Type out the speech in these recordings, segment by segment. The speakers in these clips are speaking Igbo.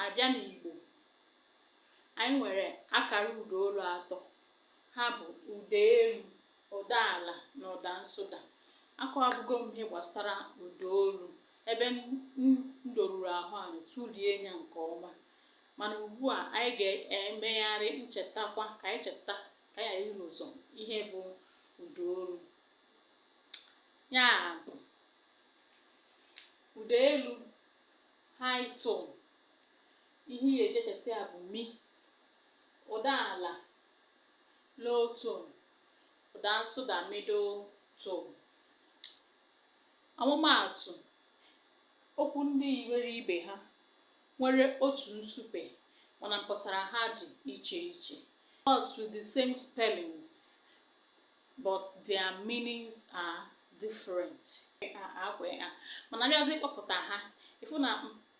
A bịa n'Igbo, anyị nwere akara ụdaolu atọ. Ha bụ ụda elu, ụda ala na ụda nsụda. Akọwabugo m ihe gbasara ụdaolu ebe m doruru ahụ ala tụlie ya nke ọma. Mana ugbu a, anyị ga-emegharị nchetakwa ka anyị cheta ka anyị ghara irozọ ihe bụ ụdaolu. Ya bụ, ụda elu high tone ihe ị ga-eji echeta ya bụ mi ụda ala low tone ụda nsụda middle tone ọmụmaatụ okwu ndị yiri ibe ha nwere otu nsupe mana mpụtara ha dị iche iche words with the same spellings but their meanings are different ọ kwa ya mana a bịazị ịkpọpụta ha ị fụ na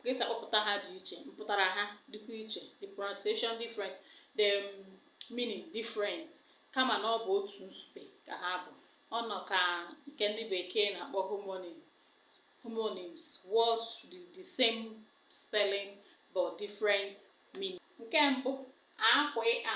ka e si akpọpụta ha dị iche mpụtara ha dịkwa iche the pronunciation different the um, meaning different kama na ọ bụ otu nsupe ka ha bụ ọ nọ ka nke ndị bekee na-akpọ homonyms homonyms words with the same spelling but different meaning nke mbụ akwa a